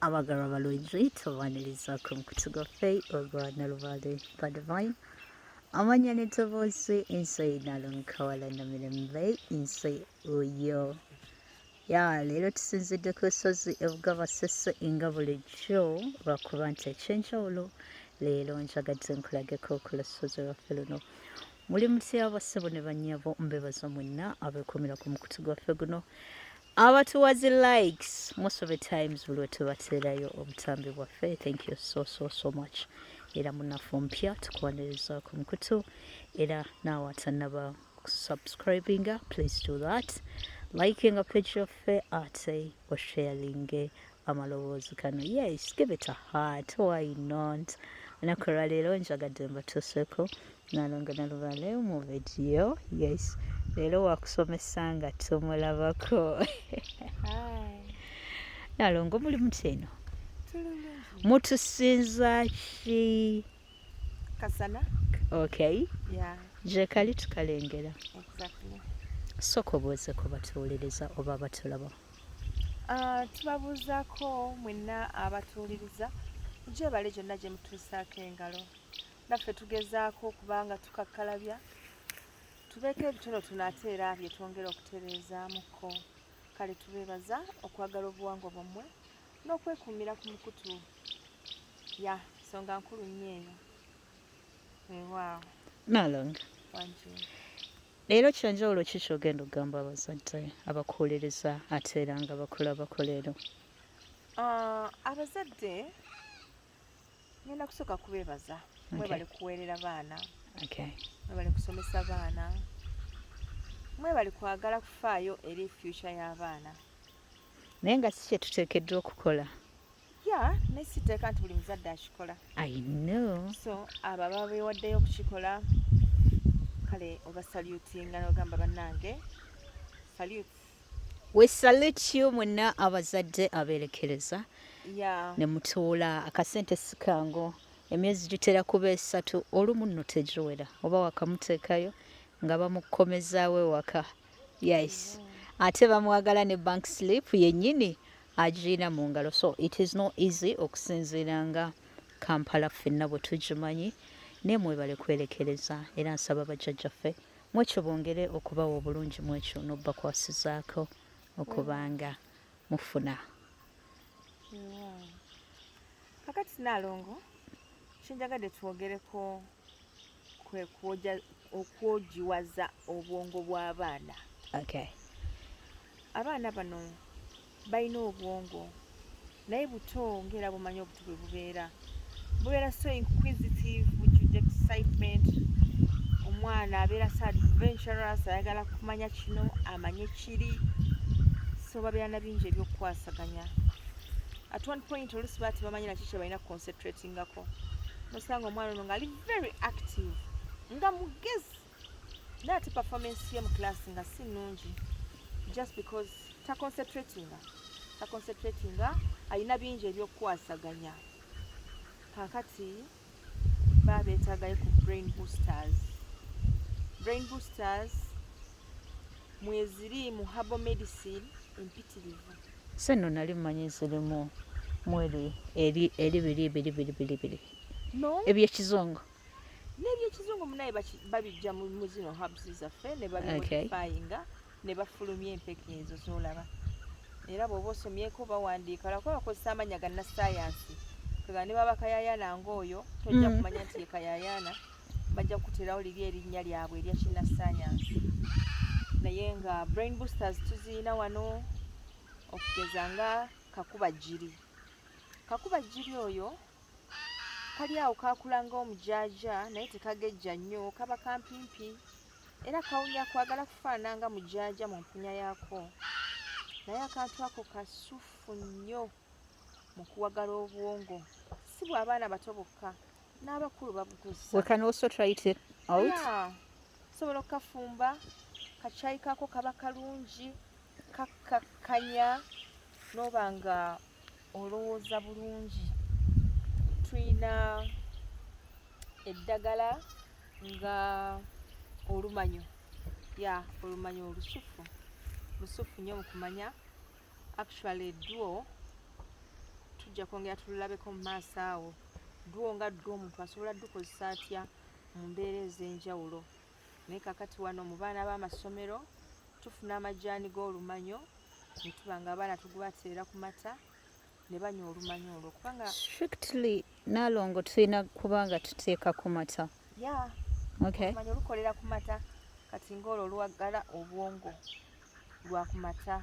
abagalwa balungi tubaniriza ku mukutu gwaffe ogwa nalubale badivine amanya netoboozi ensi nalonkawala na mirembe ensi oyo ya leero tusinzidde ku lusozi ebuga basese nga bulijjo lwakuba nti ekyenjawulo leero njagadde nkulageko ku lusozi lwaffe luno muli mutya basebo ne banyabo mbebaza mwenna abekumira ku mukutu gwaffe guno abatuwa zi likes most of the times buli wetubateerayo obutambi bwaffe thank you so so so much era munafu ompya tukuwaniriza ku mukutu era naawe atanaba subscribinga please do that likinga page yaffe ate osharinge amaloboozi gano yes give it a heart why not olunaku olwaleero njagadde mbatuuseko nalonga nalubale mu vidiyo yes leero wakusomesa nga tumulabako nalongo muli muteno mutusinza ki kasana okay yeah. gyekali tukalengera exactly. soka obuuze kubatuwuliriza oba batulaba Ah, tubabuuzaako mwenna abatuwuliriza gyebale gyonna gye mutuusaako engalo naffe tugezaako okuba nga tukakkalabya tubeeko ebitono tuno ate era bye twongera okutereezaamuko kale tubeebaza okwagala obuwangwa bwammwe n'okwekuumira ku mukutu ya nsonga nkulu nnyo eyo weewaawo nalonga wanjuu Leero kyanjawulo ki kyogenda okugamba abazadde abakuwuliriza ate era nga bakulabako leero? Ah, abazadde ngenda kusooka kubeebaza mwebale kuweerera baana mwebale kusomesa baana mwebale kwagala kufaayo eri future y'abaana naye nga si kyetuteekeddwa okukola ya naye siteeka nti buli muzadde akikola i know so abo ababa bewaddeyo okukikola kale oba salutinga nogamba bannange salut we salute you mwenna abazadde abeerekereza yeah. ne mutuula akasente sikango emyezi gitera kuba esatu olumu nno tegiwera oba wakamuteekayo nga bamukomezaawo ewaka yes mm. ate bamwagala ne bank slip yennyini agirina mu ngalo so it is no easy okusinziira nga kampala ffenna bwe tugimanyi naye mwebale kwerekereza era nsaba bajjajjaffe mwekyo bongere okubawa obulungi mwekyo nobakwasizaako okubanga mufuna kakati nalongo kyenjagadde twogereko kwe kwoja okwojiwaza obwongo bw'abaana okay. abaana bano balina obwongo naye buto ngaera bumanyi obuto bwe bubeera bubeera so inquisitive which is excitement omwana abeera so adventurous ayagala kumanya kino amanye kiri so babeera na bingi ebyokukwasaganya at one point olusi baati bamanyi naki kyebalina kuconcentratingako nosanga omwana ono ngaali very active nga mugezi naye ate performance ye mu class nga si nungi just because taconcentratinga taconcentratinga alina bingi ebyokukwasaganya kakati baba beetaagayo ku brain boosters brain boosters mweziri mu habo medicine empitirivu se no nali mmanyi zirimu mweri eri eri biri biri biri biri biri no ebyekizungu n'ebyekizungu munaye babijja mu zino habs zaffe ne babimodifayinga okay. ne bafulumya empeke ezo z'olaba era bw'oba osomyeko bawandiika lwakuba bakozesa amannya ga nassaayansi kega ne baba kayayaana ng'oyo tojja mm. kumanya nti ye kayayaana bajja kukuterawo liri erinnya lyabwe erya kinnassaayansi naye nga brain boosters tuziyina wano okugeza nga kakuba jjiri kakuba jjiri oyo kali awo kakulanga omujaaja naye tekagejja nnyo kaba kampimpi era kawunya kwagala kufaanana nga mujaaja mu mpunya yaako naye akantu ako kasufu nnyo mu kuwagala obwongo si bw'abaana bato bokka n'abakulu babugusasobola okukafumba kakyayi kaako kaba kalungi kakkakkanya n'oba nga olowooza bulungi tulina eddagala nga olumanyo ya olumanyo olusufu lusufu nyo mukumanya actually edduo tujja kwongera tululabeko mu maaso awo dduo nga dduo omuntu asobola dukozesa atya mu mbeera ez'enjawulo naye kakati wano mu baana b'amasomero tufuna amajaani g'olumanyo ne tuba nga abaana tugubateera ku mata ne banywa olumanyo olwo kubanga strictly nalongo tulina kuba nga tuteeka ku mata ya okay olumanyo lukolera ku mata kati ng'olwo lwagala obwongo lwa ku mata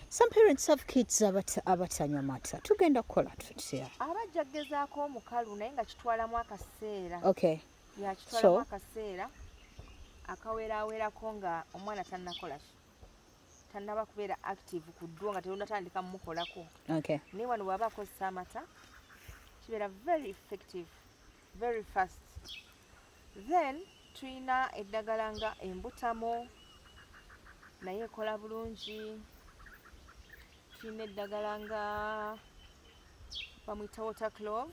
some parents have kids abatanywa mata tugenda kukola tutya abajja kugezaako omukalu naye nga kitwalamu akaseera okay yakitwalamu akaseera akawerawerako nga omwana tanakola tanaba kubeera active ku ddwo nga teyonatandika mumukolako naye wano bwaba akozesa amata kibeera very effective very fast then tulina eddagala nga embutamo naye ekola bulungi tulina eddagala nga bamwita water clove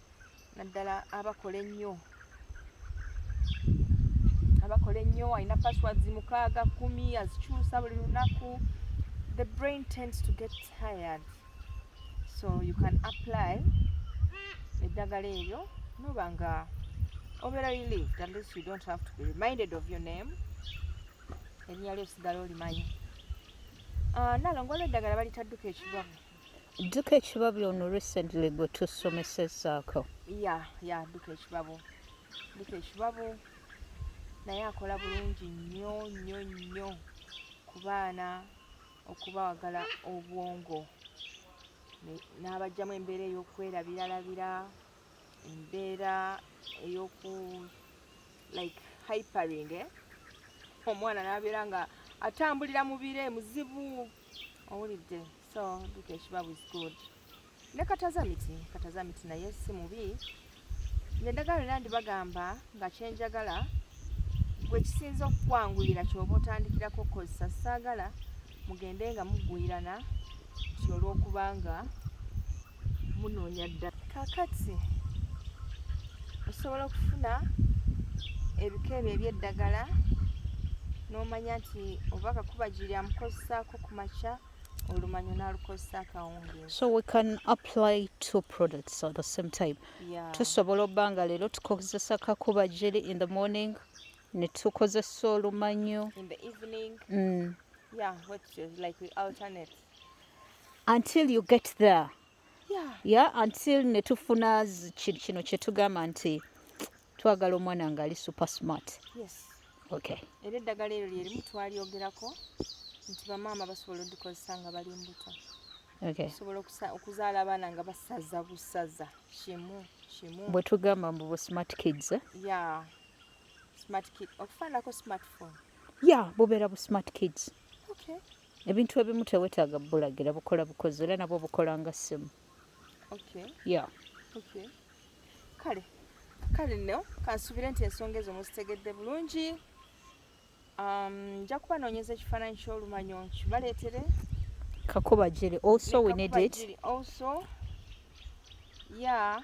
naddala abakola ennyo abakola ennyo alina passwords mukaaga kumi azikyusa buli lunaku the brain tends to get tired so you can apply eddagala eryo noba nga obeera relieved at least you don't have to be reminded of your name erinnya lyo osigala olimanyi ah, nalongo olweddagala balitadduka ekibamu dduka ekibabyo ono recently gwe tusomesezaako ya ya dduka ekibabo dduka ekibabo naye akola bulungi nnyo nnyo nnyo ku baana okubawagala obwongo n'abajjamu embeera ey'okwerabiralabira embeera ey'oku like hypering eh? omwana n'abeera nga atambulira mu bire muzibu owulidde so duka ekibabu is good ne katazamiti katazamiti naye si mubi nendagala era ndibagamba nga kyenjagala gwe kisinza okukwanguyira kyoba otandikirako okukozesa saagala mugende nga mugwirana nti olwokubanga munoonya ddala kakati osobola okufuna ebika ebyo ebyeddagala n'omanya nti oba kakuba giri amukozesaako ku makya olumanyo n'alukozesa akawungeezi so we can apply two products at the same time yeah. tusobola obba nga leero tukozesa kakuba giri in the morning ne tukozesa olumanyo in the evening mm. yeah what like we alternate until you get there yeah, yeah until netufuna kino kyetugamba nti twagala omwana nga ali super smart yes. okay. era eddagala eryo lyerimu twalyogerako nti bamaama basobola odikozesa nga bali mbuto okay. osobola okuzaala abaana nga basaza busaza kimu kimu bwetugamba mbu bu smart kids eh? yeah. smart kid okufaanako smartphone ya yeah, bubeera bu smart kids okay. ebintu ebimu tewetaaga bulagira bukola bukozi era nabwo bukola nga ssimu kale kale no kansubire nti ensonga ezo muzitegedde bulungi um, nja kuba noonyeza ekifaananyi ky'olumanyo nkibaleetere kakubagiri also we need it also ya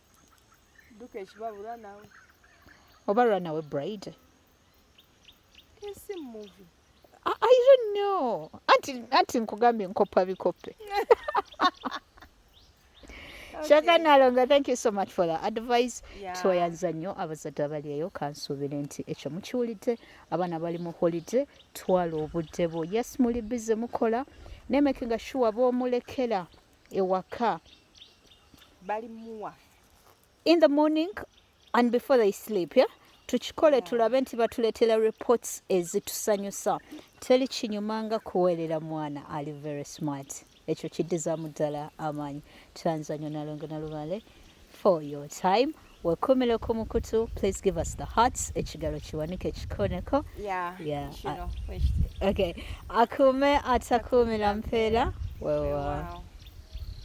duka ekibabula nawe oba run away bride I, I don't know anti, anti nkugambye nkoppa bikoppe Shaka Nalonga, thank you so much for the advice. Yeah. Tweyanza nnyo abazadde abaliyo kansuubire nti ekyo mukiwulidde abaana bali mu holiday twala obudde bwo yes muli bize mukola nemakinga shuwa bwomulekera ewaka balimuwa in the morning and before they sleep yeah? tukikole tulabe nti batuleetera reports ezitusanyusa teri kinyuma nga kuweerera mwana ali very smart ekyo kiddizaamu ddala amaanyi tanzanyo nalongo nalubale for your time wekumile ku mukutu please give us the hearts ekigalo kiwanike kikoneko yeah, yeah. Uh, okay akume atakumila mpeera wewa wow. wow.